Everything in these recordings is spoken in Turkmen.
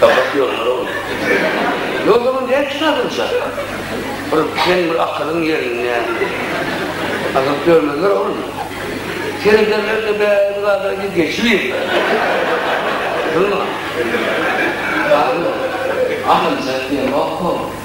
Gabat ýollar boldy. Ýoluň dek salynja. Bir sen bir akylyň ýerinde. Azyp ýörmezler ogly. Serederler-de bäri bir zada diýip geçibiýr. Durma. Akyl diýen ýokmy?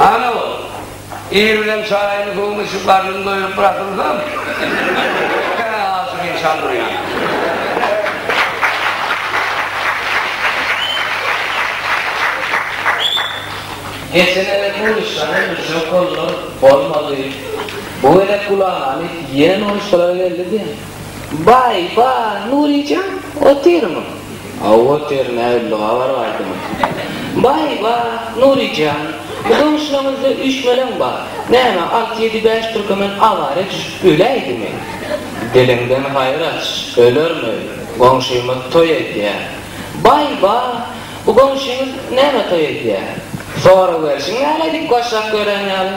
Ana ol, ir bilen çaýyny suwuny içip garnyny doýuryp bırakylsam, ene asyk insan durýan. Geçen ene pul iş, ana, müşrek boldular, bolmady. Bu gezek gulagy alyp, ýene noýuşgalara geldi diýen. Baý, ba, Nury jan, otyrmy? Hawa, otyryn, näbildiga bar gaýdymy? Baý, ba, Nury jan, bu goňşulaňyzda üýşmeleň bar, näme, alty-ýedi, bäş türkemen awara düşüp öläýdimi? Diliňden haýyr aç, ölermi, goňşymyz toý edýär. Baý, ba, bu goňşyňyz näme toý edýär? Soraberişiň näleýdik, başak gören ýaly.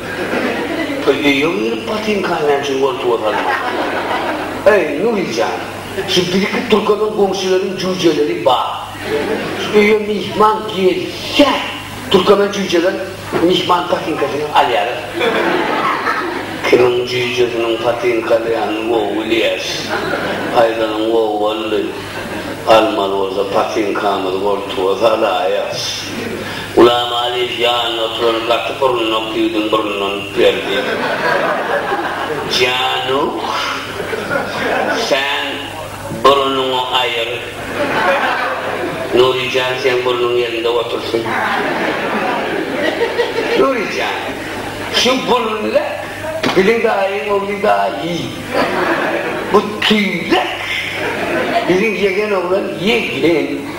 Öý öýe girip botinkany näme üçin goltuga salmaň. Eý, Nury jan, şu birki türkeniň goňşularyň jüýjeleri bar. Şu öýe myhman gelse, türkemen jüýjeler myhman potinkasyny alýarlar. Kimiň jüýjesiniň potinka alýanyny gowy bilýäs. Aýdanyň gowy boldy. Almaly bolsa potinkamyzy goltuga salaýas. Ulam Alyýew ýanynda oturan gaty burunly okyudyň burnundan üplerdi. Januk, sen burunyňy aýyr. Nury jan seň burnuň ýerinde otursyn. Nury jan, şu burunlek biziň daýyň ogly daýy. Bu tüýlek biziň ýegen oglan ýegen.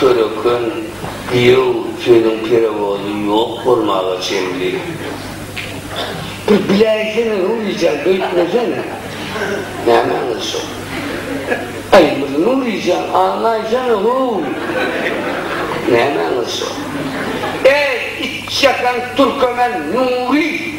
Köreken, giýew sözüň perewozy ýok bolmaga çenli. Bir biläýsene Nuryjan beýtmeseň. Nämäňiz şo? Aýmyr Nuryjan aňlaýsana how! Nämäňiz şo? Eý, itjakan türkemen Nury!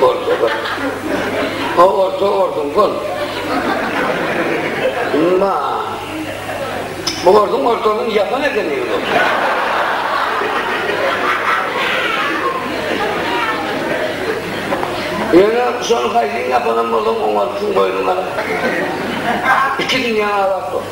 Bolsa bir. O orta orduň bol. Ma. Bu orduň ortalyň yapan ekeni bu. Yöne şonu kaydin yapanam bolsa oňa tüm boynuna. İki dünya alat bu.